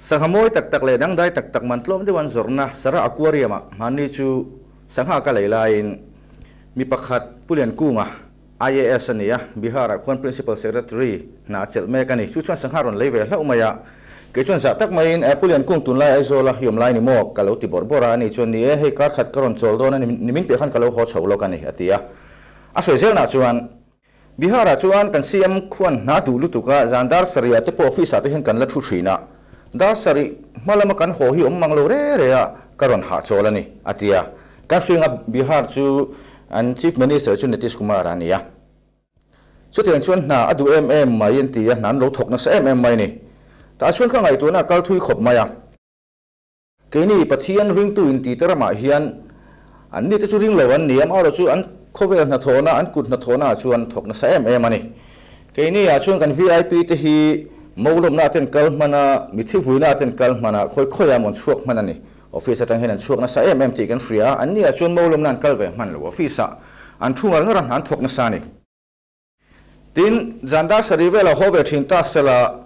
Sangha mawi tak tak leh dangdai tak tak man tlawm deuh an zawrhna Sara Aquarium-a hmanni chu sangha ka lei laiin mi pakhat Pu Lian Kunga, IAS a nia, Bihar-ah khuan Principal Secretary hna a chelh mek a ni. Chu chuan sangha rawn lei ve hlauh mai a, kei chuan zah tak maiin Pu Lian Kung tunlai Aizawl a awm lai ni maw? ka lo ti bawrh bawrh a, ani chuan ni e, hei kar khat ka rawn chawl dawn a ni, ni min piah khan ka lo haw chho lawk a ni, a ti a. A sawi zelnah chuan. Bihar-ah chuan kan siam khuan hna duh lutuk a, zan dar sarih ah te pawh office ah te hian kan la thu thin a, dar sarih hma lama kan haw hi awm mang lo re re a, ka rawn hahchawl a ni, a ti a. Kan hring a Bihar chu an Chief Minister chu Nitish Kumar a ni a, chutiang chuan hna a duh em em mai an ti a, hna an lo thawk nasa em em mai a ni. Tah chuan ka ngaihtuahna a kal thui khawp mai a. Keini Pathian ringtu intite ramah hian an ni te chu ringlo an ni, amaherawh chu an khawvel hnathawhna, an kut hnathawhnaah chuan thawk nasa em em a ni. Keiniah chuan kan VIP te hi molawmnaah ten kal hmana, mithi vuinaah ten kal hmana, khawi khawiah an rawn chhuak hman a ni. Office atang hian an chhuak nasa em em tih kan hria, anniah chuan molawmna an kal ve hman lo, office-ah an thu ngar ngar a, an thawk nasa a ni. Tin, Jandar sarih velah haw ve thin ta sela,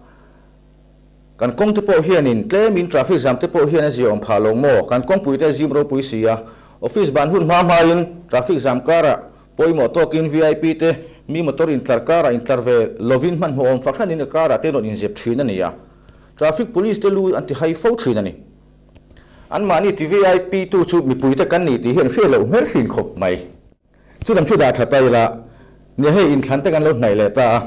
kan kawngte pawh hianin tlemin traffic jam te pawh hian a zia awm phah lo maw? Kan kawngpui te zim ropui si a, office ban hun hma hmain traffic jam karah pawimawh tawkin VIP te mi motor intlar karah intlar ve lovin hmanhmawh awm fak hranin a karah te rawn inzep thin a ni a, traffic police te lu an ti hai fo thin a ni. Anmahni ti VIP tu chu mipuite kan ni tih hi an hriat loh hmel thin khawp mai. Chulam chu dah tha ta ila, nia hei inthlan te kan lo hnaih leh ta a.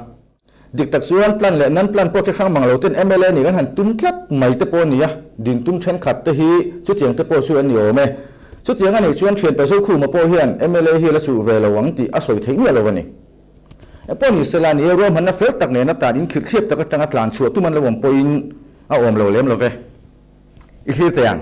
Dik tak chuan plan leh nan plan pawh che hrang mang lo ten mla nih kan han tum tlat mai te pawh a ni a, din tum thenkhat te hi chutiang te pawh chu an ni awm e. Chutiang a nih chuan thianpa Zokhuma pawh hian mla hi a la chuh ve lo ang tih a sawi theih miah lo a ni. Eng pawh ni sela ni e, ruahmanna fel tak nen atan in khirhkhirep tak atanga tlan chhuah tum an lo awm pawhin a awm lo lem lo ve. I hlir teh ang.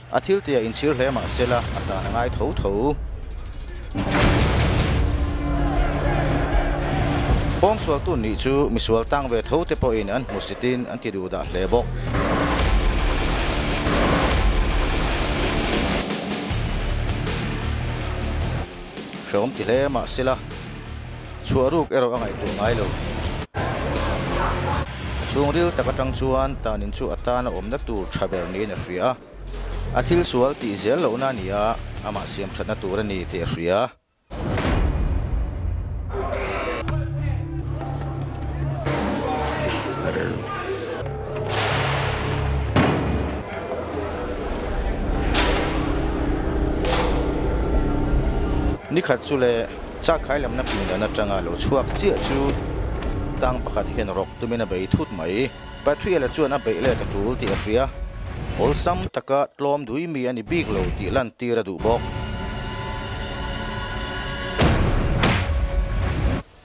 A thil te a in chhir hle mah sela a tan a ngai tho tho. Pawng sualtu nih chu misual tang ve tho te pawh in an hmu sit in an ti duh dah hle bawk. Hrawm ti hle mah sela. Chhuah ruk erawh a ngaihtuah ngai lo. A chhungril tak atang chuan tanin chu a tan a awmna tur tha ber niin a hria a. A thil sual tih zel lohna a ni a, amah siamthatna tur a ni tih a hria. Nikhat chu le. Chakkhai lamna pindan atanga lo chhuak chiah chu tang pakhat hian rawk tumin a bei thut mai. Patriela chuan a beih let a tul tih a hria. Awlsam taka tlawm dui mi a ni bik lo tih lantir a duh bawk.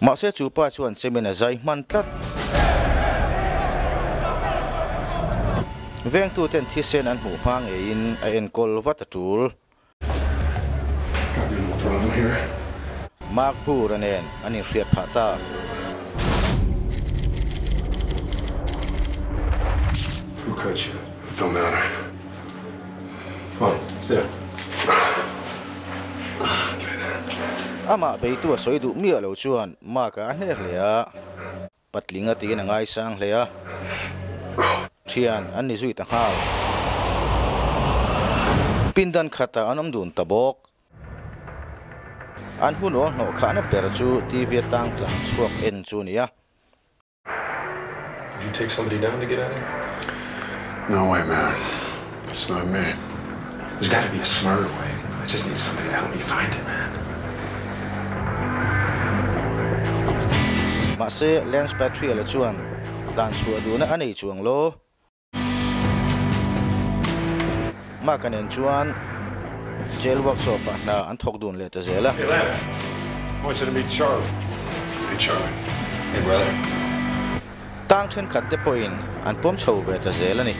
Mahse chu pa chuan chemin a zai hman tlat. Vengtuten thisen an hmuh hma ngeiin a enkawl vat a tul. Mark Burr-a nen an inhriat phah ta. Amah beitu a sawi duh miah lo chuan Mark-a a hneh hle a. Patling a tiin a ngai sang hle a, thian an ni zui ta nghal. Pindan khatah an awm dun ta bawk. An hun aw hnawh khahna ber chu TV a tang tlang chhuak en chu a ni a. Mahse, Lance Patria la chuan tlan chhuah duhna a nei chuang law, Mark a nen chuan jail workshop ah hna an thawk dun leh ta zel a. Tang thenkhat te pawhin an pawm chho ve ta zel a ni.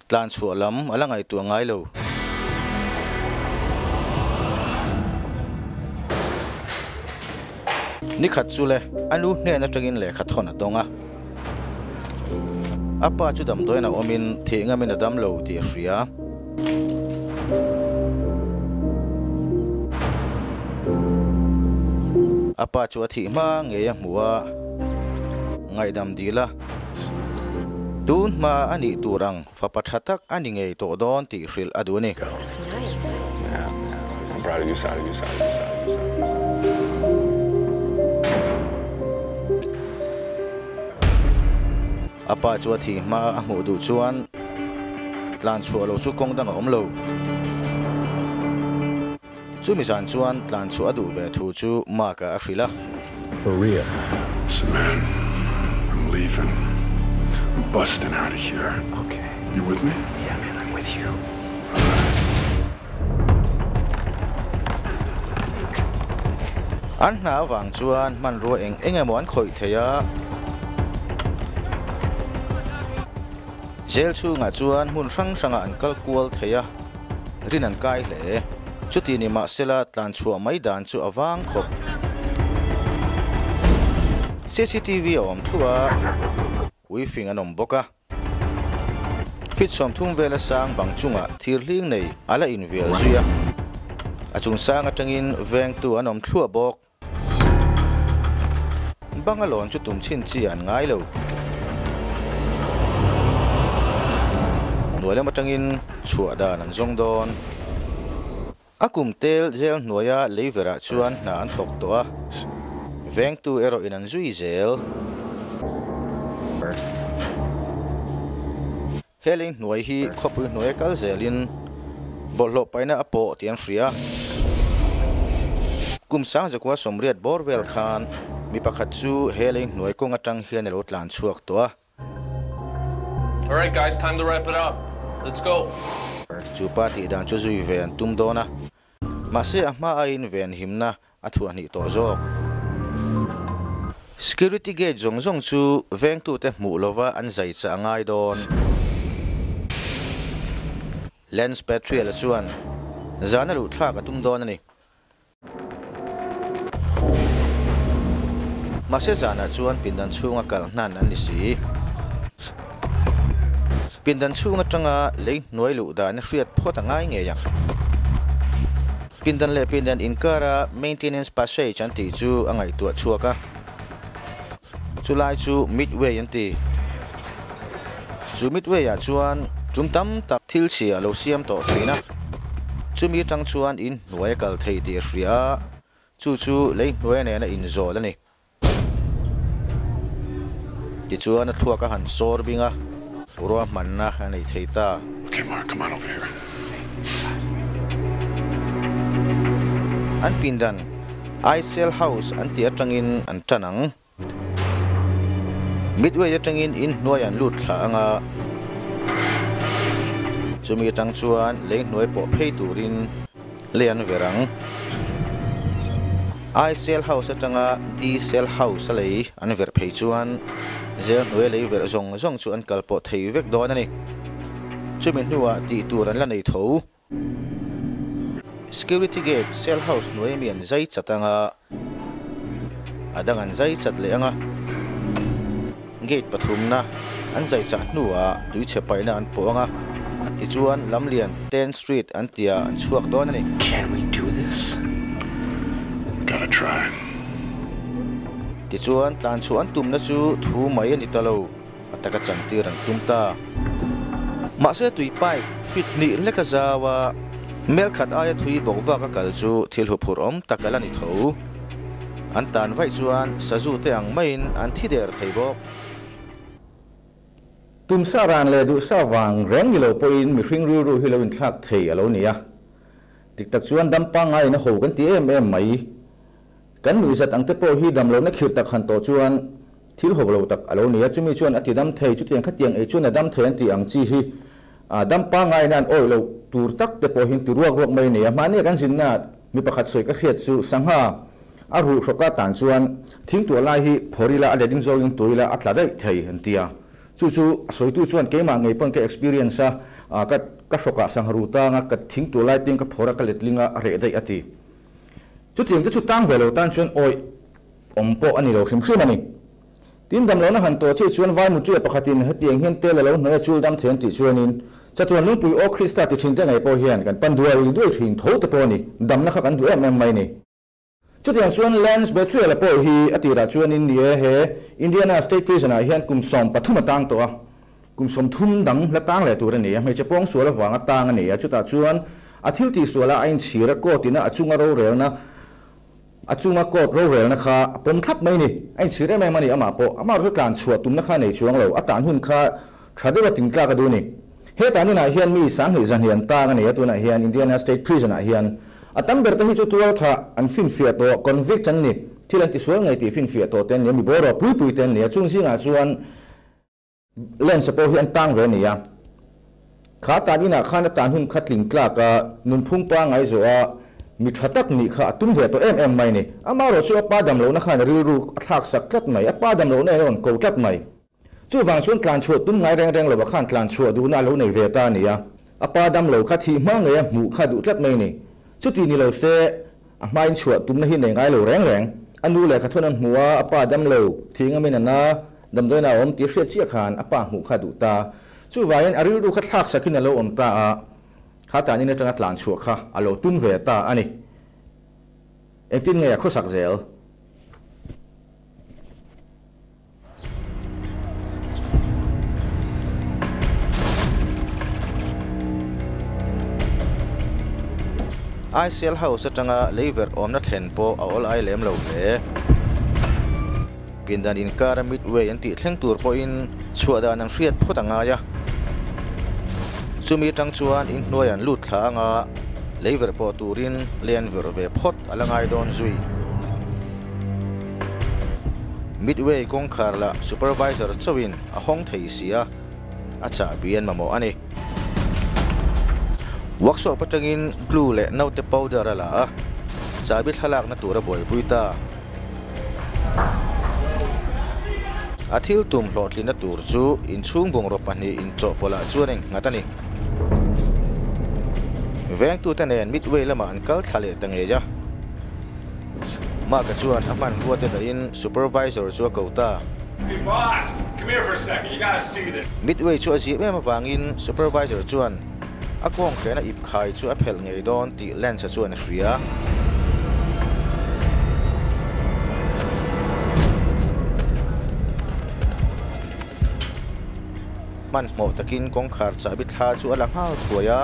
Tlan chhuah lam a la ngaihtuah ngai lo. Nikhat chu le a nu hnen atangin lehkha thawn a tawng a. A pa chu damdawiinah awmin thih ngamin a dam lo tih a hria. A pa chu a thih hma ngei a hmu a, ngaihdam dih la. Tunhma a nih tur ang fapa tha tak a ni ngei tawh dawn tih hrilh a duh a ni. Pa chu a thi hma a hmuh duh chuan tlan chhuah lo chu kawng dang a awm lo. Chumi zan chuan tlan chhuah duh ve thu chu Mark-a a hrilh a. Maria, Listen man, I'm leaving, I'm busting out of here, you with me? Yeah man, I'm with you. An hna avang chuan hmanrua eng eng emaw an khawih thei a. Jail chhungah chuan hmun hrang hrangah an kal kual thei a. rin an kai hle. Chuti ni mah sela tlan chhuah mai dan chu a vang khawp. CCTV a awm thluah a ui fing an awm bawk a. Fit sawmthum vela sang bang chungah thir hling nei a la invial zui a. A chung sang atangin vengtu an awm thluah bawk. Bangalore chu tum chhin chi an ngai lo. Hnuai lam atangin chhuah dan an zawng dawn. A kum tel zel hnuaia lei verah chuan hna an thawk tawh a, vengtu erawh in an zui zel. Helin hnuai hi khawpui hnuai a kal zelin bawlhhlawh paina a pawh tih an hria. Kum sang zakua sawmriat bawr vel khan mi pakhat chu Helin hnuai kawng atang hian a lo tlan chhuak tawh a. Chu pa tih dan chu zui ve an tum dawn a. Mahse a hma a invenhimna A thu a hnih tawh zawk. Security gate zawng zawng chu vengtute hmuh lova an zai chah a ngai dawn. Lance Petriel-a chuan zan a luhthlak a tum dawn a ni. Mahse zanah chuan pindan chhunga kal hnan an ni si. Pindan chhung atanga lei hnuai luh dan a hriat phawt a ngai ngei ang. Pindan leh pindan inkara maintenance passage an tih chu a ngaihtuah chhuak a, chu lai chu midway an ti. Chu midway ah chuan tum tam tak thil chhia a lo siam tawh thin a, chu mi tang chuan in hnuai a kal thei tih a hria a, chu chu lei hnuai nena inzawl a ni. Tichuan a thluak a han sawr bing a, ruah hmanna a nei thei ta. An pindan Icel House an tih atangin an tan ang. Midway atangin in hnuai an lut thlah ang a. Chumi atang chuan lei hnuai pawh phei turin Lianverang I Cell House atanga D Cell House a lei an verh phei chuan zel hnuai lei verh zawng zawng chu an kal pawh thei vek dawn a ni. Chumi hnuah tih tur an la nei tho. Security Gate Cell House hnuai mian zai chat anga a dang an zai chat leh ang a, gate pathumna an zai chah hnuah tui chhe paihna an pawh ang a, tichuan Lamlian ten street an tia an chhuak dawn a ni. Tichuan tlanchhuah an tumna chu thu mai a ni ta lo. A taka changtir an tum ta. Mahse tui pipe fit hnih leka zau a, mel khat aia thui bawk vak a kal chu thil huphurh awm tak a la ni tho. An tan vaih chuan Sazu te ang maiin an thi der thei bawk. Tumsa ran leh duhsa vang reng ni lo pawhin mi hring rilru hi lo inthlak thei a lo ni a. Dik tak chuan dam pangngai in a ho kan ti em em mai. Kan nuihzat ang te pawh hi damlo na khir tak han tawh chuan thil hawk lo tak a lo ni a, chumi chuan a tidam thei chutiang khatiang ei chuan a dam thei an tih ang chi hi a dam pangain a an awih loh tur tak te pawh hi ti ruak ruak mai a ni a, mahni kan zinna ah mi pakhat sawi ka hriat chu sangha a ruh hrawk a tan chuan thing tuah lai hi phawrh ila a letting zawngin tuah ila a tla daih thei an ti a, chu chu a sawitu chuan keimah ngei pawn ka experience a ka ka hrawkah sangha ru tanga ka thing tuah lai peng ka phawrh a ka letling a a reh daih a ti. Chutiang te chu tang ve lo tan chuan awih awm pawh a ni lo hrim hrim a ni. Tin dam lohna han tawh chiah chuan vai mutia pakhatin hetiang hian tel a lo hnawih a chul dam thei an tih chuanin chatuan lungpui aw Krista tichhing te nei pawh hian kan pan duai duai thin tho te pawh a ni. Damna kha kan duh em em mai ni. Chutiang chuan Lance Betuella pawh hi a tirah chuanin ni e, he Indiana State Prison-ah hian kum sawm pathum a tang tawh a, Kum sawmthum dang hla tang leh tur a ni a, hmeichhe pawng sual avanga tang a ni a, chutah chuan a thil tih sual a a inchhir a, court ina a chunga rorelna a chunga court rorelna kha a pawm thlap mai a ni, a inchhir em em a ni amah pawh, amah erawhchu tlan chhuah tumna kha a nei chuang lo, a tan hun kha tha deuha tin tlak a duh a ni. Heta hmunah hian mi sanghnih zahnih an tang a ni a, tunah hian Indiana State Prison ah hian a tam ber te hi chu tualtha an finfiah tawh, convict an ni, thil an ti sual ngei tih finfiah tawh te an ni a, mi boruak pui pui te an ni a, chung zingah chuan. Len se pawh hi an tang ve a ni a, thla tan inah khan a tan hun kha tling tlak a, nunphung pa ngai zawh a, mi tha tak nih kha a tum ve tawh em em mai ni. Amaherawh chu a pa damlohna khan rilru a thlak sak tlat mai, a pa damlohna in a rawn ko tlat mai. Chuvang chuan tlan chhuah tum ngai reng reng lo a khan tlan chhuah duhna a lo nei ve ta a ni a, a pa damlo kha thih hma ngei a hmuh kha duh tlat mai ni. Chutih ni lo se, A hmain chhuah tumna hi nei ngai lo reng reng. A nu leh Khathunan hmu a, a pa dam lo, thing a min a na, damdawiinah a awm tih hriat chiah khan a pa hmuh kha a duh ta. Chuvangin a rilru kha thlak sakin a lo awm ta a, Khatanin atanga tlan chhuah kha a lo tum ve ta a ni. Engtin nge a khawsak zel? ICL House atanga leiverh awmna thlen pawh a awl ai lem lo hle. Pindan inkara midway an tih thleng tur pawhin chhuah dan ang hriat phawt a ngai a. Chumi atang chuan in hnuai an lut thla anga leiverh pawh turin lian ver ve phawt a la ngai dawn zui. Midway kawngkhar lah supervisor chauhin a hawng thei si a, a chahbian mamawh a ni. Workshop atangin glue leh note powder a la a, chahbi thlalakna tur a buaipui ta. A thil tum hlawhtlinna tur chu inchhung bungraw pahnih inchawhpawlah chuan in nghat a ni. Vengtute nen Midway lamah an kal thla leh ta ngei a. Mark-a chuan a hman ruate dahin Supervisor chu a ko ta. Midway chu a zir em avangin Supervisor chuan a kawnghrehna ip khai chu a phelh ngei dawn tih Lance-a chuan a hria. Hmanhmawh takin kawngkhar chahbi thla chu a la nghal thuai a.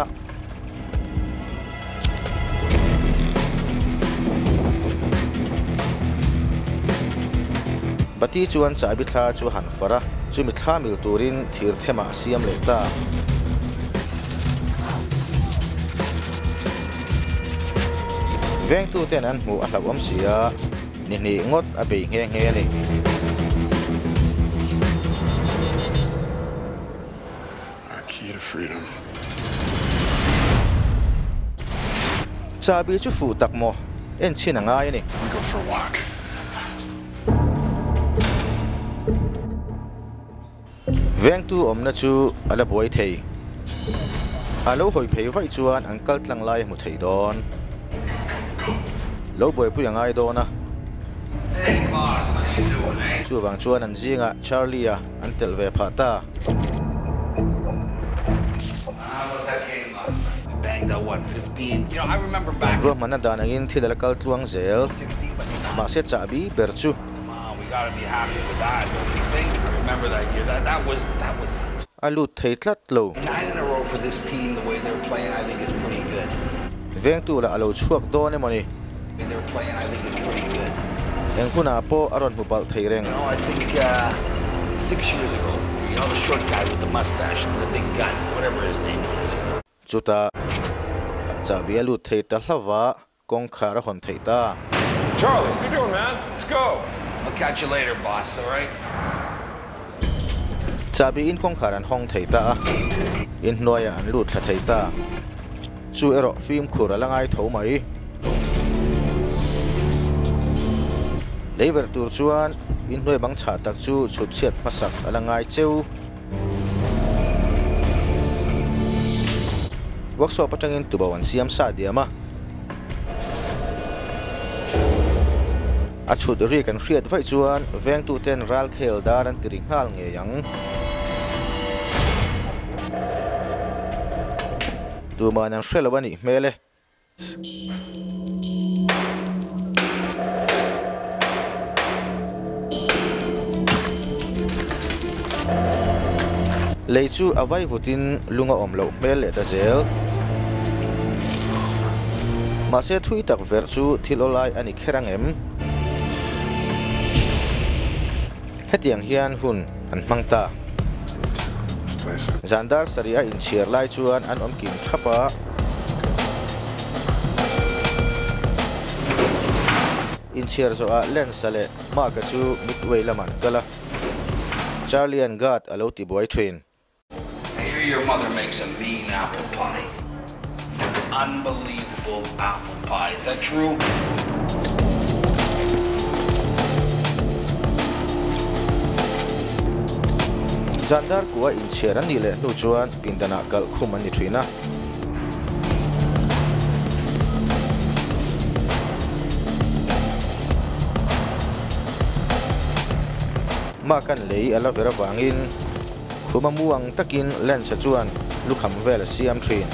Bati chuan chahbi thla chu han farh a, chumi thla mil turin thir thema a siam leh ta. Vengtu ten an hmuh a hlauh awm si a, ni hnih ngawt a bei nghe nghe a ni. a khil hrui ang. Chabi chu fuh tak maw? En chhin a ngai a ni. Can we go for a walk? Vengtu awmna chu a la buai thei. A lo hawi phei vaih chuan an kal tlang lai a hmu thei dawn. Lo buaipui a ngai dawn a. Chuvang chuan an zingah Charlie-a. an telh ve phah ta. Ruahmanna dan angin thil ala kal tluang zel, mahse chahbi ber chu. A lut thei tlat lo. Vengtu lah a lo chhuak dawn emawni. Eng hunah pawh a rawn hmu palh thei reng. Chutah chahbia lut thei ta hlova kawngkhar a hawn theih ta. Chahbi in kawngkhar an hawng thei ta a, in hnuaia an lut thla thei ta. chu erawh fimkhur a la ngai tho mai. Lei verh tur chuan inhnuai bang chhah tak chu chhutchhiat hmasak a la ngai cheu. Workshop atangin tubo an siam sa diam a. A chhut ri kan hriat vaih chuan vengtu ten ral khel dar an ti ri nghal ngei ang. Tumain an hre lo a nih hmel e. Lei chu a vai vut in lung a awm loh hmel leh ta zel. Mahse thui tak verh chu thil aw lai a ni. kher ang em? Hetiang hian hun an hmang ta. Zan dar sarih a inchhiar lai chuan an awm kim thap a. Inchhiar zawh ah Lance-a leh Mark-a chu midway lamah an kal a. Charlie-a'n guard a lo tibuai thin. I hear your mother makes a mean apple pie. An unbelievable apple pie. Is that true? Zandar kua inchhiar an nih leh hnu chuan pindan ah kalh khum an ni thin a. Mah kan lei a la ver avangin. Khuma muang takin Lance-a chuan lukham vel a siam thin.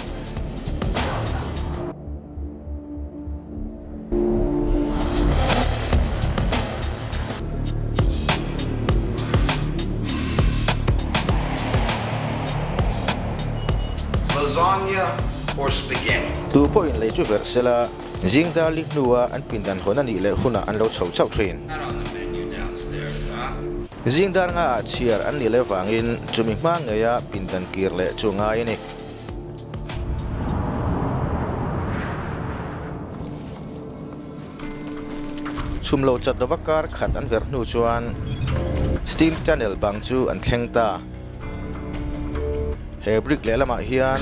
Tu pawhin lei chu verh sela, zing dar li hnua an pindan hawn a nih leh hunah an lo chho chauh thin. Zing dar nga ah chhiar an nih leh vangin chumi hma ngeia pindan kir leh chu ngai a ni. Chhum lo chat lova kar khat an ver hnu chuan steam tunnel bang chu an thleng ta. He brick leh lamah hian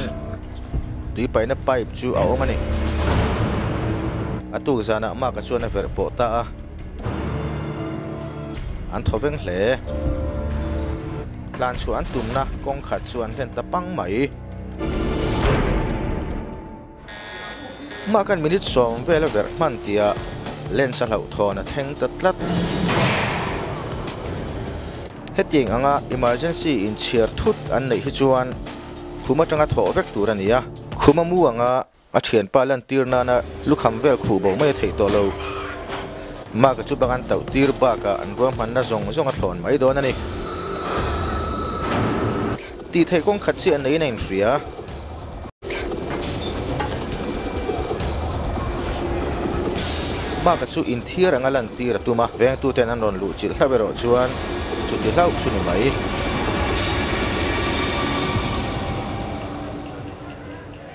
tui paihna pipe chu a awm a ni. A tukzanah Mark-a chuan a verh pawh ta a. an thaw veng hle tlan chhuah an tumna kawng khat chu an venta pang mai mahkhan minute sawm vel a verh hman tia lens a hlauh thawn a thleng ta tlat hetiang anga emergency inchhiar thut an neih hi chuan khum atanga thawh vek tur a ni a khum a mu anga A thianpa lantir nana lukham vel khuh bo mai a theih tawh lo. Mark-a chu bang an tauh tir bakah an ruahmanna zawng zawng a thlawn mai dawn a ni. Tih theih kawng khat chiah neiin a inhria. Mark-a chu inthiar anga lantir a tum a, vengtuten an rawn luh chilh hlauh erawh chuan chuti hlauh chu ni mai.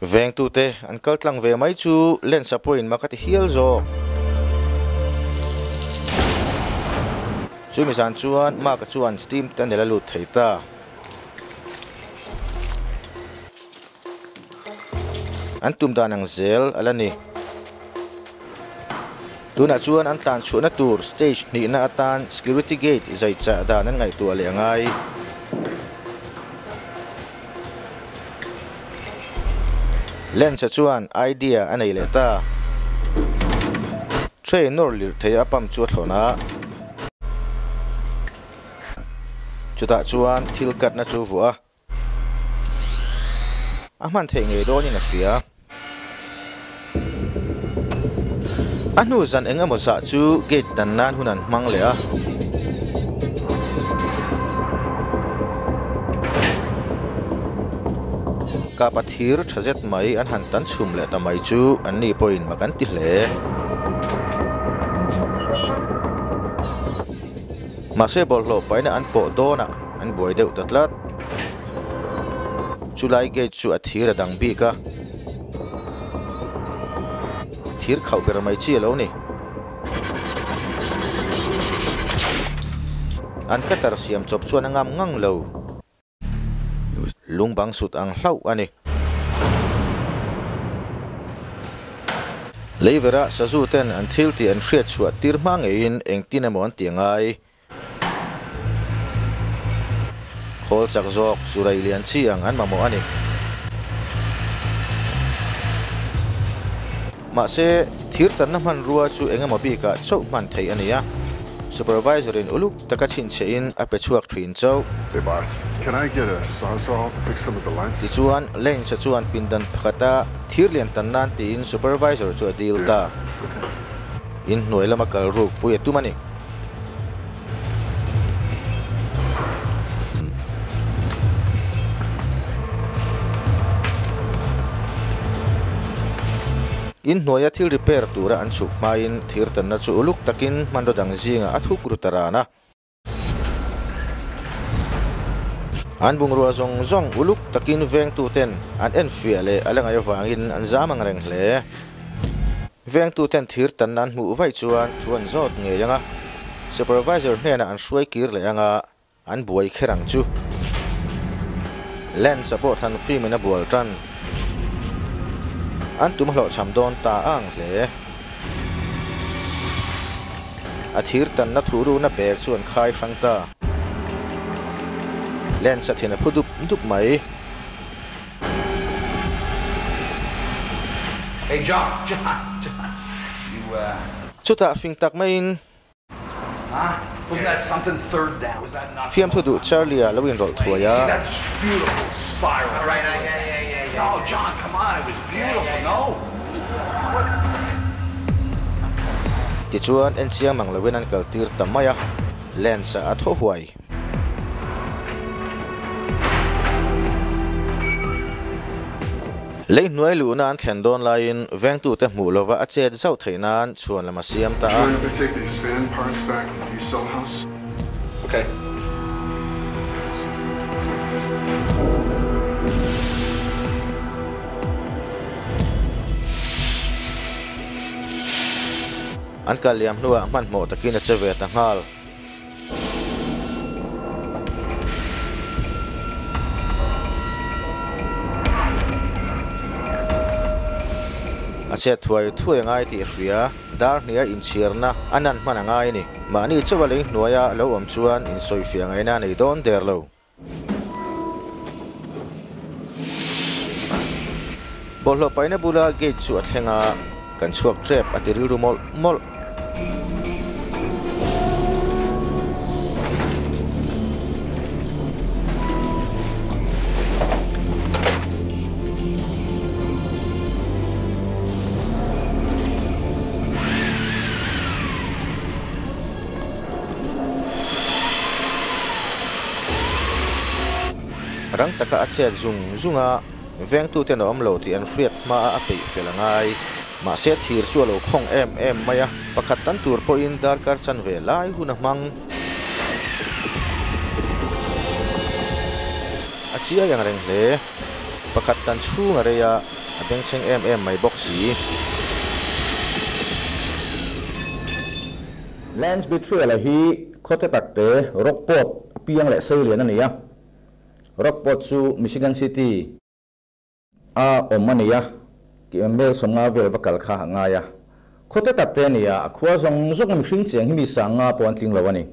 Vengtute an kal tlang ve mai chu Lensa pawhin maka ti hial zawk. Chumi zan chuan Mark-a chuan steam te a nel a lut thei ta. An tum dan ang zel a la ni. Tunah chuan an tlan chhuahna tur stage hnihna atan security gate zai chah dan an ngaihtuah leh a ngai. Lens-a chuan idea a nei leh ta. Trainer lirh theih a pump chu a thlawn a. Chutah chuan thil katna chu vuah a. A hman theih ngei dawnin a hria. A hnu zan eng emaw zah chu gate dan nan hun an hmang leh a. Kapa thir tha zet mai an han tan chhum leh ta mai chu an ni pawhin ma kan ti hle. Mahse bawlhhlawh paina an pawh dawnah. An buai deuh ta tlat. Chu lai gate chu a thir a dang bik a. Thir khauh ber mai chi a lo ni. An cutter siam chawp chuan a ngam ngang lo. Lung bang sut ang hlauh a ni. Leiverah Sazu ten an thil tih an hriat chhuah tir hma ngeiin engtin emaw an ti a ngai. Khawl chak zawk chu rei lian chi ang an mamawh a ni. Mahse, thir tanna hmanrua chu eng emaw bikah chauh hman thei a ni a. Supervisor-in uluk taka chhinchhiahin a pe chhuak thin chauh. Hey boss, can I get a sawzall to fix some of the lights? Tichuan, Lance-a chuan pindan pakhata thir lian tan nan tiin Supervisor chu a dil ta. Inhnuai lama kal ruk pui a tum a ni. In hnuaia thil repair tura an chhuk hmain thir tanna chu uluk takin hmanraw dang zinga a thuk ru ta ran a. An bungrua zawng zawng uluk takin vengtuten an enfiah leh a la ngai avangin an zam angreng hle. Vengtu ten thir tanna an hmuh vaih chuan thu an zawt ngei ang a, Supervisor hnenah an hruai kir leh anga an buai kher ang chu. Lance-a pawh thlan fim in a bual tan. An tum hlawh chham dawn ta ang hle. A thir tanna thu runa bag chu an khai hrang ta. Lance-a thin a phu dup dup mai. Chutah fing tak maiin fiamthu duh Charlie-a lo inrawlh thuai a. Tichuan enchiang mang loin an kaltir ta mai a, Lance-a a thaw huai. Lei hnuai luhna an thlen dawn laiin vengtute hmuh lova a chet zauh theih nan chhuan lam a siam ta a. An kal liam hnuah hmanhmawh takin a che ve ta nghal. A chhiat thuai thuai a ngai tih a hria. Darhniah inchhiarna a nan hman a ngai a ni. Mahni chauh a lei hnuaia a lo awm chuan insawi fiah ngaihna a nei dawn der lo. Bawlhhlawh paina bula gate chu a thleng a, kan chhuak tep a ti rilru mawlh mawlh. Rang taka a chhiat zung zung a, vengtu ten a awm lo tih an hriat hma a, a peih fel a ngai. Mahse thir chu a lo khawng em em mai a, pakhat tan tur pawhin dar kar chan ve lai hun a hmang. A chiai ang reng hle, pakhat tan chhung a rei a, a bengchheng em em mai bawk si. Lance Betrayal-a hi khawte takte Rockport apiang leh seilian a ni a. Rockport chu Michigan City a awm a ni a, Mel sawmnga vel va kal kha a ngai a. Khawte takte a ni a, a khua zawng zawng mihring chiang hi mi sangnga pawh an tling lo a ni.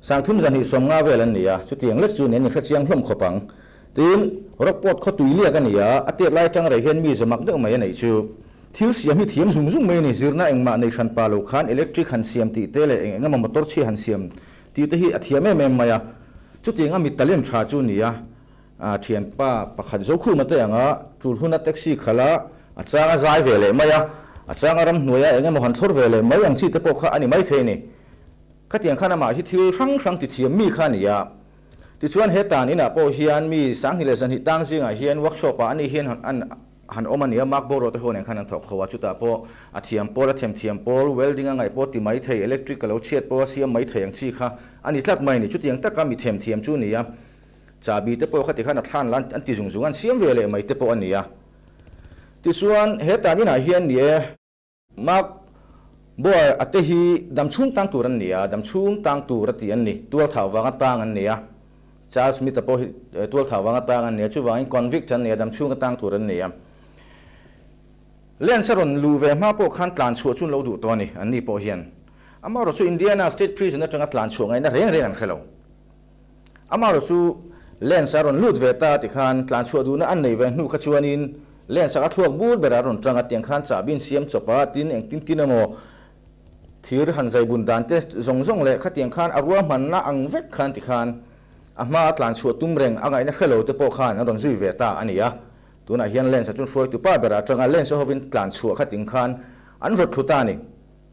Sangthim zahnih sawm nga vel an ni a, chutiang lek chu nen ni hre chiang hlawm khawp ang. Tin, Rockport khaw tui liak a ni a, a tet lai tang rei hian mi zawmak deuh mai a neih chu. Thil siam hi thiam zung zung mai a ni, zirna engmah nei hran pa lo khan electric han siam tih te leh eng eng emaw motor chhia han siam tih te hi a thiam em em mai a, chutiang a mi ta lem tha chu ni a. A thianpa pakhat zo khu mate anga Tulhuna taxi khal a, a chang a zai ve leh mai a, a chang a ramhnuaia eng emaw han thlawr ve leh mai ang chi te pawh kha a ni mai thei a ni. Khatiang khan amah hi thil hrang hrang ti thiam mi kha a ni a. Tichuan he tan inah pawh hian mi sanghnih leh zahnih tang zingah hian workshop ah ani hian han han awm a ni a, Mark boruak te ho nen khan an thawk kho a, chutah pawh a thiam pawl, a thèm thiam pawl, welding a ngaih pawh ti mai thei, electric ka lo chhiat pawh a siam mai thei ang chi kha a ni tlat mai a ni. Chutiang taka mi thèm thiam chu a ni a, chahbi te pawh khati khan a thlan la an ti zung zung a, an siam ve leh mai te pawh a ni a. Tichuan he tan inah hian ni e. Mark Boer ate hi dam chhung tang tur an ni a, dam chhung tang tur a tih an ni, tualthau vanga tang an ni a. Charles Smith-a pawh hi tualthau vanga tang an ni a, chuvangin convict an ni a, dam chhung atang tur an ni a. Lance-a rawn luh ve hma pawh khan tlan chhuah chu an lo duh tawh a ni, anni pawh hian. Amaherawhchu Indiana State Prison atanga tlan chhuah ngaihna reng reng an hre lo. Amaherawh chu lens a rawn lut ve ta ti khan tlan chhuah duhna an nei ve hnu kha chuanin lens a ka thluak bur ber a rawn tanga tiang khan chahbin siam chawp a tin eng tin tin emaw thir han zai bun dan te zawng zawng leh khatiang khan a rual hman na ang vek khan ti khan a hma a tlan chhuah tum reng a ngaihna hre lo te pawh khan an rawn zui ve ta a ni a tunah hian lens a chu hruaitu pa berah tanga lens a hovin tlan chhuah kha ting khan an rawt thlu ta a ni.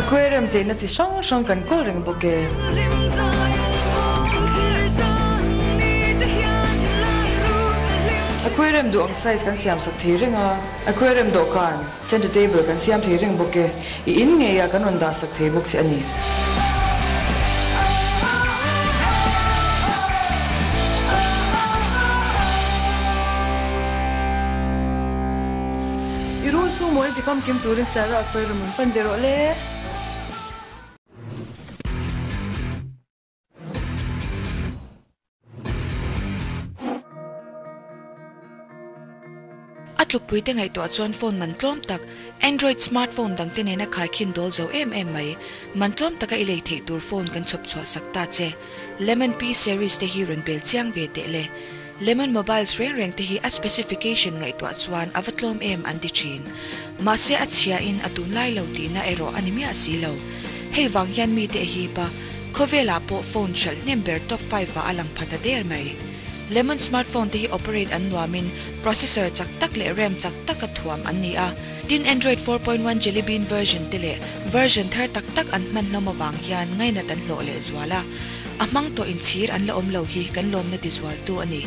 Aquarium cheina chi hrang hrang kan kawl reng bawk e. Aquarium duh ang size kan siam sak thei reng a. Aquarium dawhkan, center table, kan siam thei reng bawk e. I in ngei ah kan rawn dah sak thei bawk che a ni. I ru chhung maw i ti kham kim turin sir ro a khawih rawh min pan ve rawh le. A tlukpui te ngaihtuah chuan phone man tlawm tak Android smartphone dang te nena khai khin dawl zo em em mai. Man tlawm taka i lei theih tur phone kan chhawp chhuah sak ta che. Lemon Pea series te hi rawn bel chiang ve teh le. Lemon mobiles reng reng te hi a specification ngaihtuah chuan a va tlawm em an ti thin. Mahse a chhia in a tun lai lo tihna erawh a ni miah si lo. Hei vang hian mi te a hip a, khawvel ah pawh phone hralh hnem ber top five ah a lang phat a der mai. Lemon smartphone te hi operate an nuam in processor chak tak leh ram chak tak a thuam an ni a, tin Android four point one Jelly Bean version te leh version thar tak tak an hman hlawm avang hian ngainat an hlawh leh zual a. a hmang tawh in chhir an la awm lo hi kan lawmna tizualtu a ni.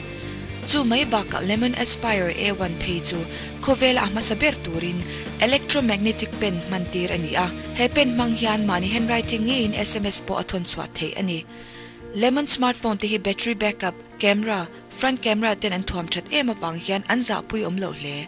Chu mai bakah Lemon Aspire A one phei chu khawvela a hmasa ber turin electromagnetic pen hman tir a ni a. He pen hmang hian mahni handwriting ngeiin sms pawh a thawn chhuah theih a ni. Lemon smartphone te hi battery backup, camera, front camera ten an thuam that em avang hian an zahpui awm loh hle.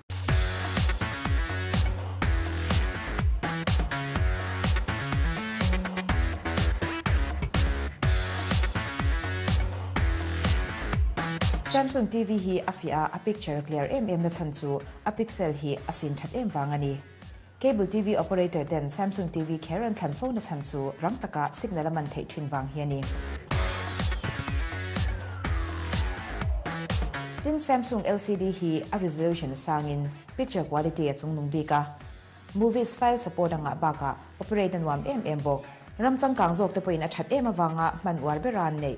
Samsung TV hi a fiah a, a picture clear em em na chhan chu a pixel hi a sin that em vang a ni. Cable TV operator ten Samsung TV kher an thlan fo na chhan chu rang taka signal a man theih thin vang hi a ni. Tin, Samsung LCD hi a resolution a sang in picture quality a chung nung bik a. Movies file support a ngah bak ah operate a nuam em em bawk. Ram changkang zawk te pawh in a that em avang a hman uar bera an neih.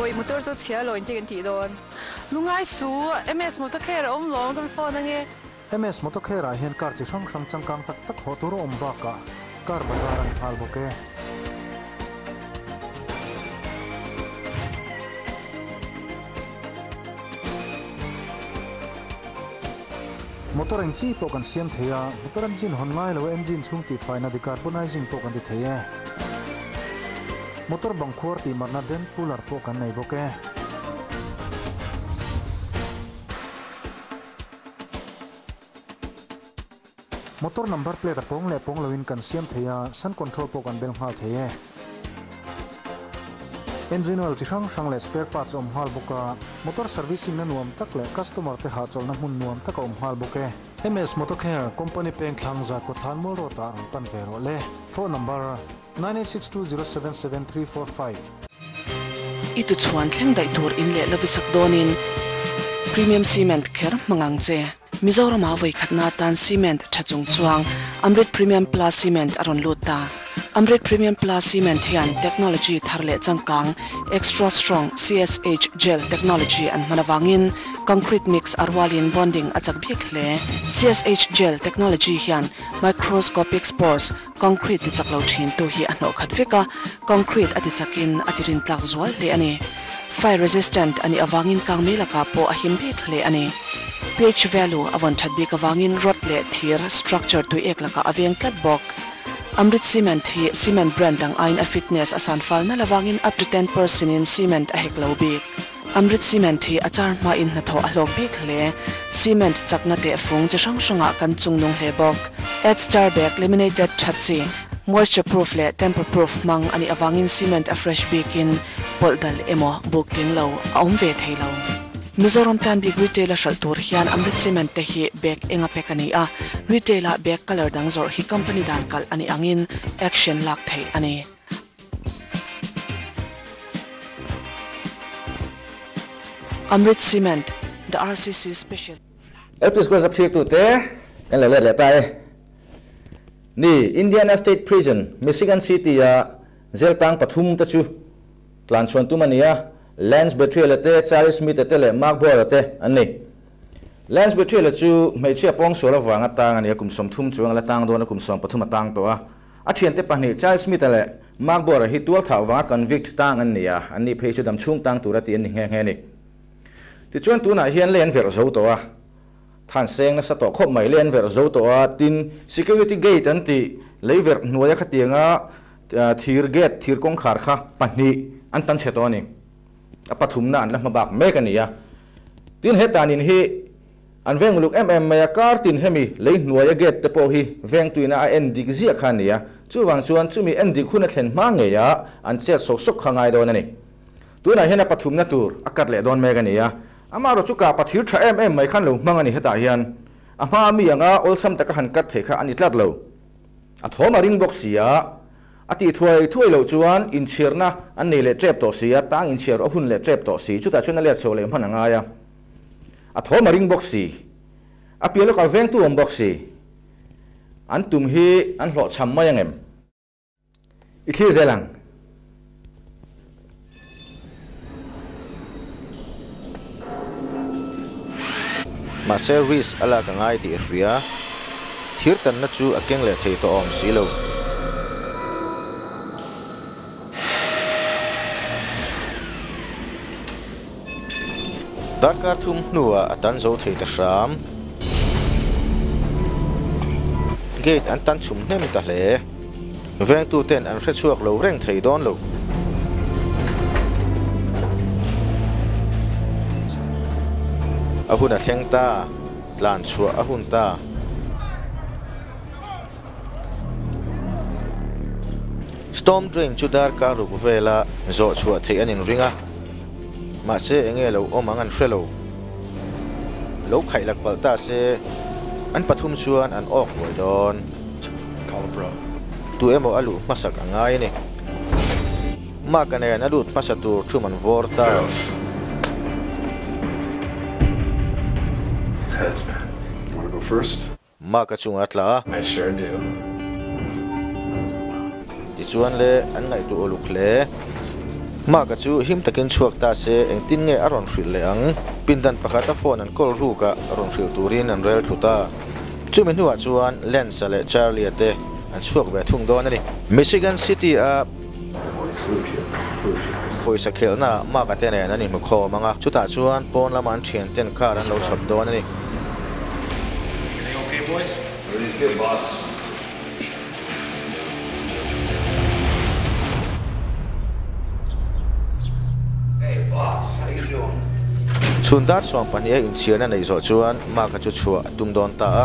Bawi motor chu chhia law inti kan tih dawn. Lungai su, MS Motocare a awm lawm kan phone ange. MS Motocare ah hian car chi hrang hrang changkang tak tak hawh tur a awm bakah car bazar a ni nghal bawk e. Motor eng chi pawh kan siam thei a, motor engine hawn ngai lo a engine chhung tihfaina decarbonizing pawh kan ti thei e. Motor bang khuar tihmarna dent puller pawh kan nei bawk e. Motor number plate a pawng leh pawng loin kan siam thei a, sun control pawh kan bel nghal thei e. Engine oil chi hrang hrang leh spare parts a awm nghal bawk a, motor servicing na nuam tak leh customer te hahchawlhna hmun nuam tak a awm nghal bawk e. MS Motorcare, Company peng thlang zat Kawtthlan Mall Road ah rawn pan ve rawh le. Phone number, nine eight six two zero seven seven three four five. I tuchhuan thleng daih tur in leh la visak dawnin Premium Cement kher hmangang che. Mizoramah vawikhatna atan cement tha chung chuang Amrit Premium Plus Cement a rawn lut ta. Amrit Premium Plus Cement hian technology thar leh changkang, Extra Strong, CSH, gel technology an hman avangin concrete mix a rualin bonding a chak biak hle. CSH gel technology hian microscopic spores, Concrete tichak lo thintu hi a hnawh khat vek a, concrete a tichakin a tirintlak zual hle a ni. Fire resistant a nih avangin kang mi lakah pawh a him bik hle a ni. Ph value a vawn that bik avangin rod leh thir structure tui ek lakah a veng tlat bawk. Amrit Cement hi cement brand ang aiin a fitness a sanfal nal avangin up to ten percent in cement a hek lo bik. Amrit cement hi a char hma in hnathawh a hlawk bik hle. Cement chakna teh fung chi hrang hrangah kan chung nung hle bawk. Edge tar bag, laminated that chi, moisture proof leh temper proof hmang anih avangin cement a fresh bikin pawlh dal emaw buk tling lo a awm ve thei lo. Mizoram tan bik retail a hralh tur hian Amrit cement te hi bag enga pack a ni a, retail ah bag colour dang zawrh hi company dan kalh anih angin action lak theih a ni. Amrit Cement, The RCC Special. LP School zak thlir tute kan la let leh ta e. Ni, Indiana State Prison, Michigan City a jail tang pathum te chu tlanchhuan tum a ni a, Lance Betriele te, Charlie Smith te leh Mark Boyer te an ni. Lance Betriele chu hmeichhia pawng sual avanga tang a ni a, kum sawm thum chuang ila tang dawn a kum sawm pathum a tang tawh a. A thiante pahnih Charles Smith-a leh Mark Boer-a hi tualthah vanga convict tang an ni a, an nih phei chu damchhung tang tura ti an ni nghe nghe a ni. Tichuan tunah hian lei an verh zo tawh a, than seng nasa tawh khawp mai lei an verh zo tawh a, tin security gate an tih lei verh hnuaia khatianga thir gate, thir kawngkhar kha pahnih an tan chhe tawh a ni. A pathumna an la hma bak mek a ni a. Tin he tanin hi. An veng uluk em em mai a, kar tin hemi lei hnuaia gate te pawh hi veng tuina a en dik ziah kha a ni a, chuvang chuan chumi en dik hun a thlen hma ngeia an chhiat sawk sawk kha ngai dawn a ni. Tunah hian a pathumna tur a cut leh dawn mek a ni a, amah rawh chu kapa thir tha em em mai khan lo hmang a ni hetah hian a hma mi anga awlsam taka han cut theih kha a ni tlat lo. A thawm a ring bawk sia, a tih thuai thuai loh chuan inchhiarna an nei leh tep tawh sia, tang inchhiar rawh hun leh tep tawh si, chutah chuan a let chho leh hman a ngai a. A thawm a ring bawk si. A piah lawkah vengtu a awm bawk si. An tum hi an hlawh chham mai ang em? I thlir zel ang. Mahse Reese a lak a ngai tih a hria. Thirtanna chu a keng leh thei tawh a awm si lo. Tan kar thum hnuah a tan zo thei ta hram. Gate an tan chhum hnem ta hle. Vengtu ten an hre chhuak lo reng thei dawn lo. A hun a thleng ta, tlan chhuah a hun ta. Storm Drain chu dar kar ruk vela zawh chhuah theih an inring a, mahse eng nge lo awm ang an hre lo. Lo khaih lak palh ta se an pathum chuan an awk buai dawn. Tu emaw a luh hmasak a ngai a ni. Mark-a nen a lut hmasa tur thum an vawr ta. Mark-a chunga tla a. I share the email. Tichuan le an ngaihtuah uluk hle. Mark-a chu him takin chhuak ta se, engtin nge a rawn hrilh leh ang? Pindan pakhata phone an call ruka rawn hrilh turin an rel thlut a. Chumi hnuah chuan Lance-a leh Charlie-a te an chhuak ve thung dawn a ni. Michigan City-a. Pawisa khelhnaah Maka-te nen an inhmukhawm ang a, chutah chuan pawn lama an thianten kar an lo chhawp dawn a ni. Chhun darsuam pahniha inchhiarna neih zawh chuan Maka chu chhuah a tum dawn ta a.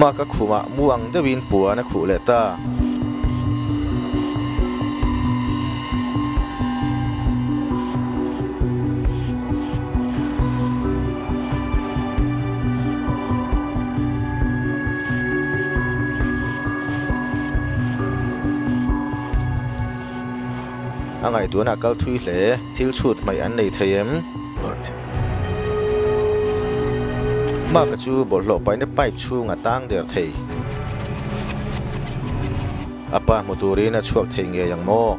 Mah ka khumah mu ang deuhin puan a khuh leh ta. A ngaihtuahna a kal thui hle. Thil chhut hmaih an nei thei em? Mark-a chu bawlhhlawh paina pipe chhunga tang der thei. A pa hmu turin a chhuak thei ngei ang maw?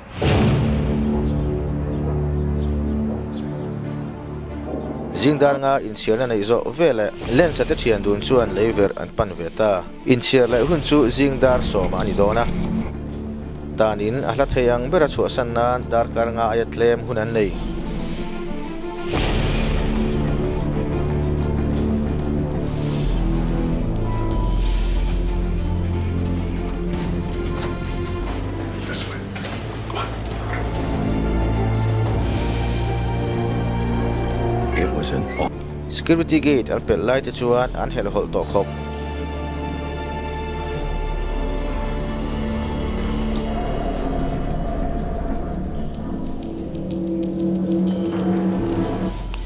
Zingdan nga inchhiarna neih zawh vel leh lensa te thian dun chuan lei verh an pan ve ta. Inchhiar leh hun chu zingdar sawma a ni dawn a. Tanin a hla thei ang bera chhuahsan nan darkar nga aia tlem hun an nei. Security gate an pelh lai te chuan an helh hawlh tawh khawp.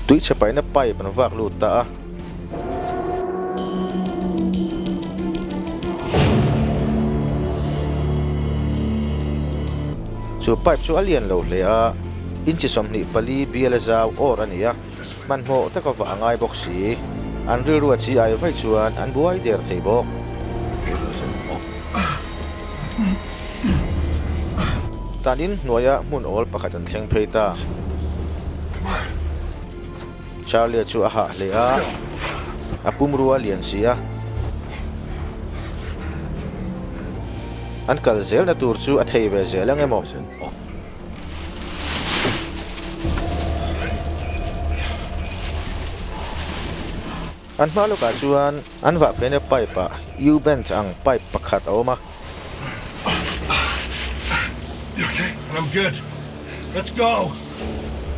Tui chhe paihna pipe an vak lut ta a. chu pipe chu a lian lo hle a inchi sawmhnih pali biala zau awr a ni a hmanhmawh taka vah a ngai bawk si an rilru a chi ai vaih chuan an buai der thei bawk tanin hnuaia hmun awl pakhat an thleng phei ta. Charlie-a chu a hah hle a, a pum rua lian si a. An kal zelna tur chu a thei ve zel ang emaw? An hma lawkah chuan an vah pheinia pipe ah U-bend ang pipe pakhat a awm a.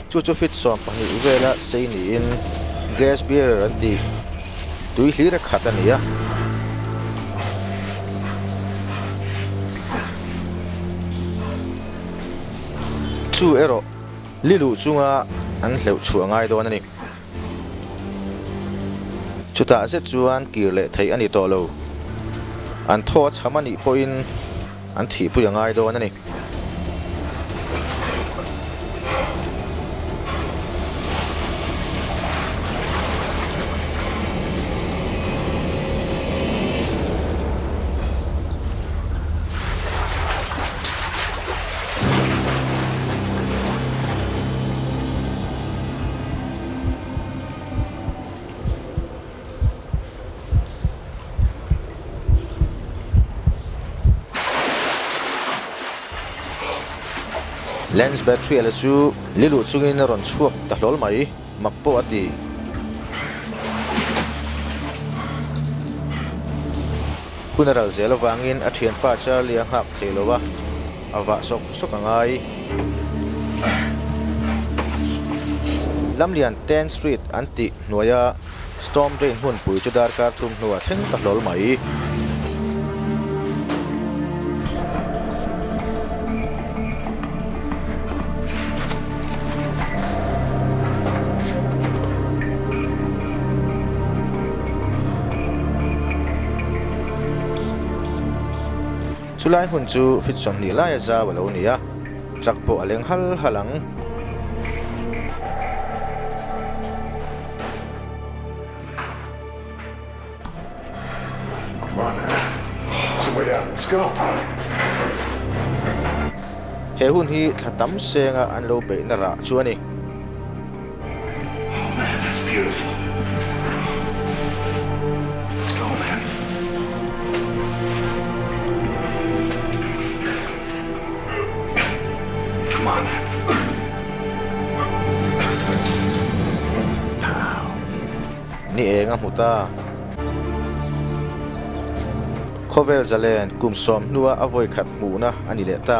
Chu chu feet sawm pahnih vela sei niin gas bearer an tih tui hlira khat a ni a. Chu erawh li luh chunga an hleuh chhuah ngai dawn a ni. Chutah zet chuan kir leh theih a ni tawh lo. An thaw a chham a nih pawhin an thihpui a ngai dawn a ni. lens battery a la chu li luh chungin a rawn chhuak ta hlawl mai mak pawh a ti. Hun a ral zel avangin a thianpa Charlie a nghak thei lo va. a vah sawk sawk a ngai. Lamlian ten street an tih hnuaia storm drain hmun pui chu darkar thum hnua thleng ta hlawl mai. Chu lai hmun chu fit sawhnih laia zau a lo ni a, truck pawh a leng hal hal ang. He hun hi thla tam senga an lo beihna rah chu a ni. Ni eng a hmu ta. Khawvel zalen kum sawm hnua a vawi khat hmuhna a ni leh ta.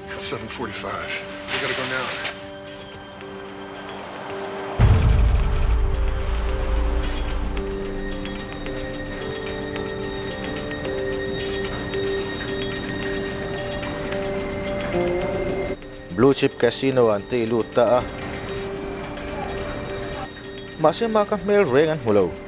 Seven forty five. We gotta go now. Blue chip casino an tih lut ta a. Mahse ma ka hmel reng an hmu lo.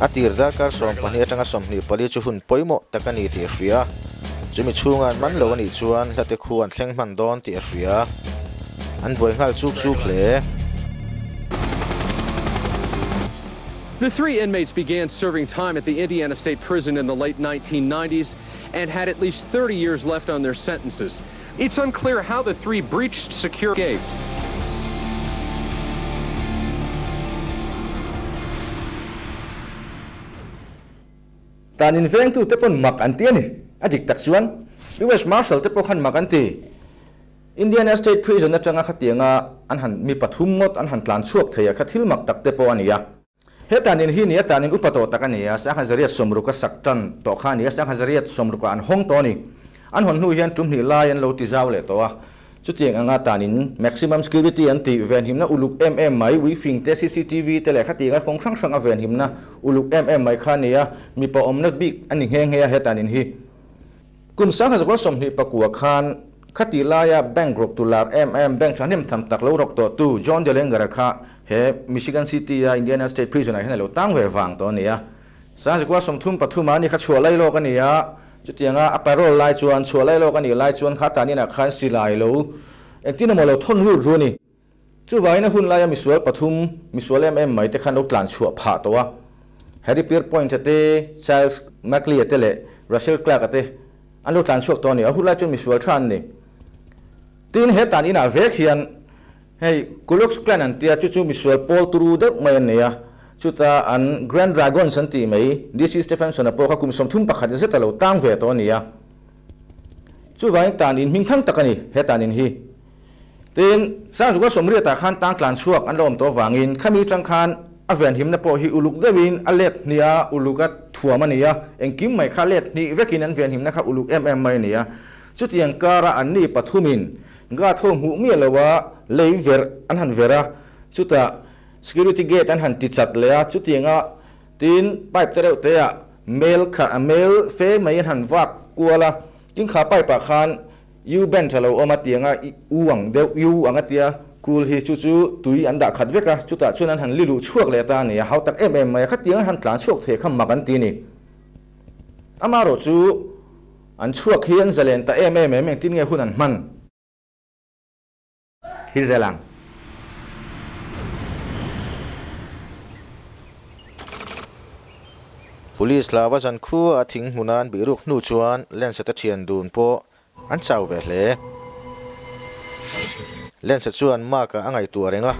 A tir darkar sawm pahnih atanga sawmhnih pali chu hun pawimawh tak a ni tih a hria. Chumi chhunga an man lo a nih chuan hla te khu an thleng hman dawn tih a hria. An buai nghal chuk chuk hle. The three inmates began serving time at the Indiana State Prison in the late nineteen ninety s and had at least thirty years left on their sentences. It's unclear how the three breached security gate. Tan invengtu te pawn mak an ti a ni. A dik tak chuan US Marshal te pawh khan mak an ti. Indiana State Prison atanga khatianga an han mi pathum ngawt an han tlan chhuak thei a kha thil mak tak te pawh a ni a. Heta nin hi nia tanin upa tawh tak a ni a, Sanghaizariat sawmruka sak tan tawh kha a ni a, Sanghaizariat sawmruka an hawng tawh a ni. An hawn hnu hian ṭum hnih lai an lo ti zau leh tawh a, chutiang anga tanin maximum security an tih, venhimna uluk em em mai, wifing te, CCTV te leh khatianga kawng hrang hranga venhimna uluk em em mai kha a ni a, mipa awmna bik a ni nghe nghe a heta nin hi. Kum sanga zakua sawmhnih pakua khan khati laia bank rawktu lar em em bank thahnem tham tak lo rawk tawhtu John de Lengara kha he Michigan City-a Indiana State Prison-ah hian a lo tang ve vang tawh a ni a. Sanga zakua sawmthum pathuma ni kha chhuah lai lawk a ni a, chutianga a parole lai chuan chhuah lai lawk a nih lai chuan kha tanin ah khan silai lo engtin emaw lo thawn lut rû a ni. Chuvangin a hun laia misual pathum, misual em em mai te khan lo tlan chhuah phah tawh a. Harry Pierpoint a te, Charles Mackley a te leh Russell Clark a te an lo tlan chhuak tawh a ni. A hun lai chuan misual tha an ni. Tin, he tan inah vek hian hei Ku Klux Klan an tia chu chu misual pawl turu deuh mai an ni a. Chuta an Grand Dragons an tih mai DC Stephenson-a pawh kha kum sawm thum pakhat zeta lo tang ve tawh a ni a. Chuvangin tan inhming thang tak a ni he tan in hi. Tiin, Sangzuga sawmriatah khan tang tlan chhuak an la awm tawh vangin khami chang khan a vianhimna pawh hi uluk deuhin a let hnih a, uluk a thuam a nia, engkim mai kha let hnih vekin an vianhimna kha uluk em em mai a nia. Chutiang kara an ni pathumin guard ho hmuh miah loha lei verh an han verh a, chutah security gate an han ti chat leh a, chutianga tiin pipe te reuh teah mail kha mail fe mai an han vak kual a, tingkha pipe ah khan U bench a lo awm a tiang a, U ang deuh U ang a tia, Kul hi chu chu tui an dah khat vek a, chutah chuan an han li luh chhuak leh ta a ni a, hau tak em em mai a, khatiang an han tlan chhuak thei kha mak an ti a ni. Ama erawh chu an chhuak hi an zalen ta em em em engtin nge hun an hman? Thil zel ang. Police hlava zan khua a thing hmuna an bih ruk hnu chuan Lensa te thian dun pawh an chau ve hle. Lensa chuan Mark a a ngaihtuah a reng a.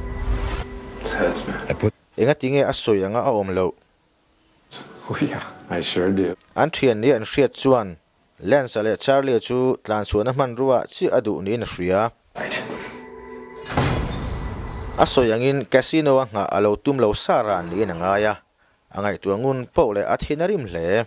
Engatinge a sawi anga a awm loh. An thian ni an hriat chuan Lance-a leh Charlie-a chu tlanchhuahna hmanruaah chiah a duh niin a hria a. A sawi angin Casino-a nghah a lo tum lo sa ran niin a ngai a. A ngaihtuah ngun poh leh a thin a rim hle.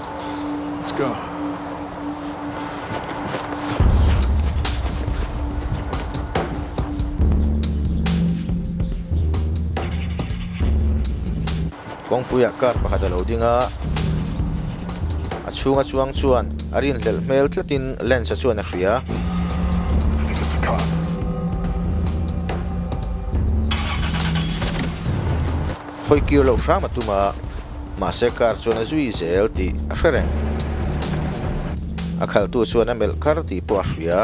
Kawngpuiah car pakhat a lo ding a, a chhunga chuang chuan a rinhlelh hmel tlatin lens-a chuan a hria. hawi kir loh hram a tum a, mahse car chuan a zui zel tih a hre reng. A khaltu chuan a melh kar tih pawh a hria.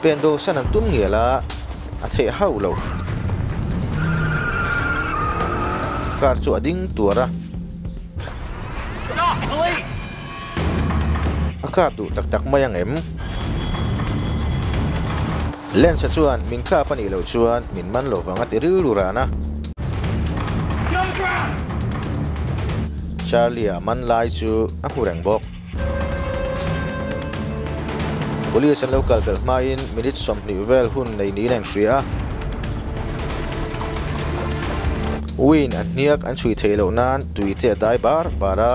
Pen dawhsan an tum ngial a, a theih hauh lo. Car chu a ding tuar a. A kap duh tak tak mai ang em? Lance-a chuan, Min tlap a nih loh chuan min man lo vang a ti rilru ran a. Charlie-a man lai chu a hmu reng bawk. Police an lo kal belh hmain minute sawmhnih vel hun nei niin a inhria a. Win a hniak an chhui thei loh nan tui te a dai bar bar a.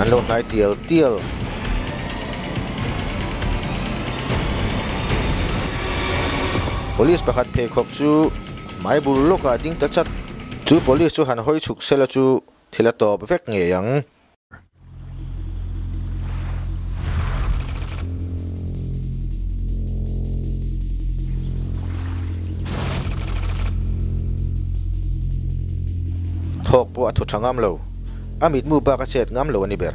An lo hnai tial tial. Police pakhat pheikhawk chu hmai bul lawkah a ding ta chat. Chu police chu han hawi chhuk sela chu thil a tawp vek ngei ang. thawk pawh a thu tha ngam lo a mitmu bak a chet ngam lo a ni ber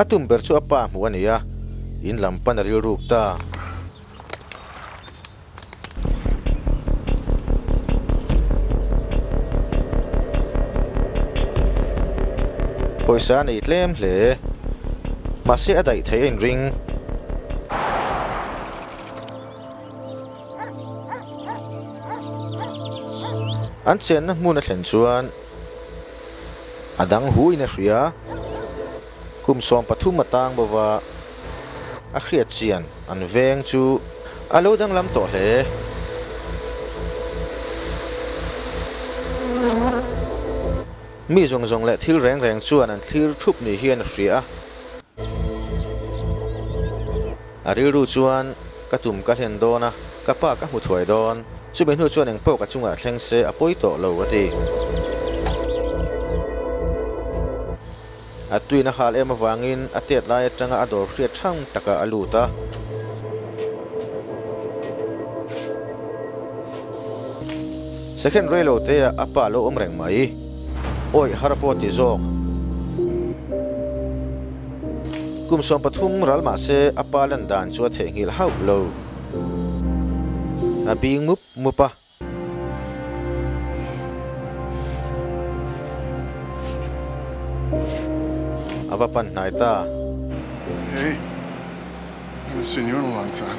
A tum ber chu a pa hmuh a nia, in lam pan a rilruk ta. Pawisa a nei tlem hle, mahse a daih theih a inring. An chenna hmun a thlen chuan a dang huiin a hria, kum sawm pathum a tang bova a hriatchian an veng chu a lo danglam tawh hle. Mi zawng zawng leh thil reng reng chuan an thlir thup ni hian a hria a, A rilru chuan, Ka tum ka hlen dawn a, ka pa ka hmu thuai dawn. Chumi hnu chuan engpawh ka chungah thleng se a pawi tawh lo, a ti. A twin a hal em avangin a tet lai atanga a dawr hriat hrang takah a lut a. Second rei lo teh ah a pa lo awm reng mai. Awih har a pawh ti zawk. Kum sawm pathum ral mah se a pa lan dan chu a theh nghil hauh lo. A bing mup mup a. A va pan hnai ta. Hei, Mister Newlawng ang chan.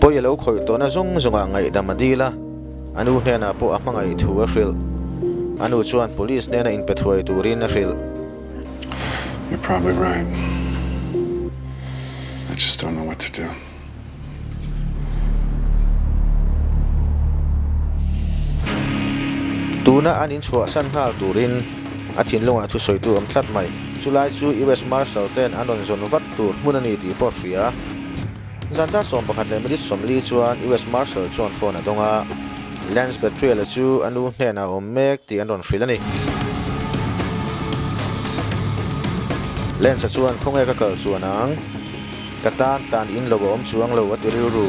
Pawi a lo khawih tawhna zawng zawngah ngaihdam a dil a, a nu hnenah pawh a hmangaih thu a hrilh. A nu chuan police hnena inpe thuai turin a hrilh. You're probably right. I just don't know what to do. Tuna an inchhuahsan nghal turin. a thinlungah chu sawi tu awm tlat mai. Chu lai chu US Marshal ten an rawn zawn vat tur hmun a ni tih pawh a hria. Zan dar sawm pakhat leh minute sawmli chuan US Marshal chuan phone a dawng a, Lance Betrayal a chu a nu hnenah a awm mek tih an rawn hrilh a ni. Lance-a chuan khawnge ka kal chuan ang? Ka tan tan in lo a awm chuang lo a ti rilru.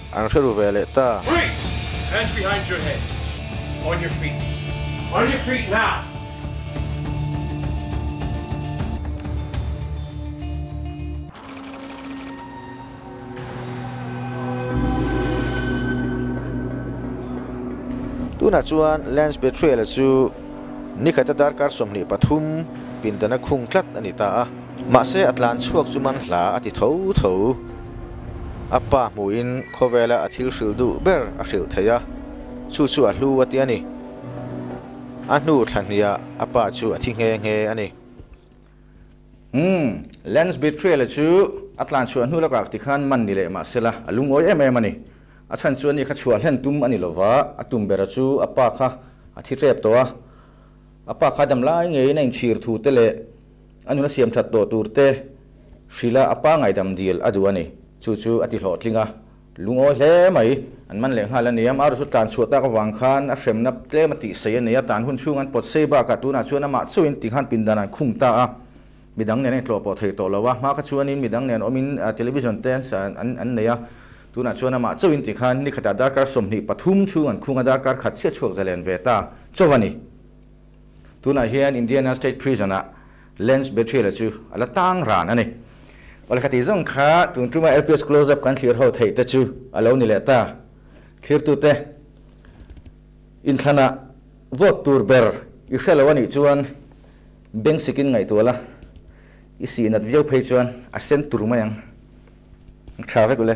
An hre ru ve leh ta. Freeze! Hands behind your head. On your feet. On your feet now! Tunah chuan Lance Betrayal-a chu nikhat-a darkar sawmhnih pathum pindana khung tlat a ni ta a. Mahse a tlan chhuak chu man hla a ti tho tho. a pa hmuhin khawvela a thil hrilh duh ber a hrilh theih a, chu chu a hlu a tia a ni. A hnu thla hniah a pa chu a thi nghe nghe a ni. Umm, Lance Betrayal-a chu a tlanchhuah a hnu lak ak tikhan man ni leh mahsela a lungawi em em a ni. A chhan chu a ni kha chhuah hlen tum a ni lova, a tum bera chu a pa kha a thi tlep tawh a. A pa kha damlai ngeiin a inchhir thu te leh. a nuna siam that tawh tur te hrilh a a pangai dam dil a duh a ni. Chu chu a ti hlawh tling a, lungawi hle mai an man leh nghal a ni. Amah erawh chu tlan chhuah tak avang khan a hremna tlem a tihsaih a ni a, tlan hun chhung an pawt sei bakah tunah chuan amah chauhin ti khan pindan an khum ta a, midang nen a intlawh pawh thei tawh lo a, hma kha chuanin midang nen awmin television te an sa an nei a, tunah chuan amah chauhin ti khan nikhatah darkar sawmhnih pathum chhung an khung a, darkar khat chiah chhuak zalen ve ta chauh a ni. Tunah hian Indiana State Prison-a Lance Betrayal-a chu a la tang ran a ni. Awle kha ti zawng kha tun ṭuma LPS close-up kan thlir ho theih te chu a lo ni leh ta. Thlirtute inthlana vote tur ber i hre lo a nih chuan beng sikin ngaihtuah la i sihnat viau phei chuan a sen tur mai ang. Ṭha vek u le.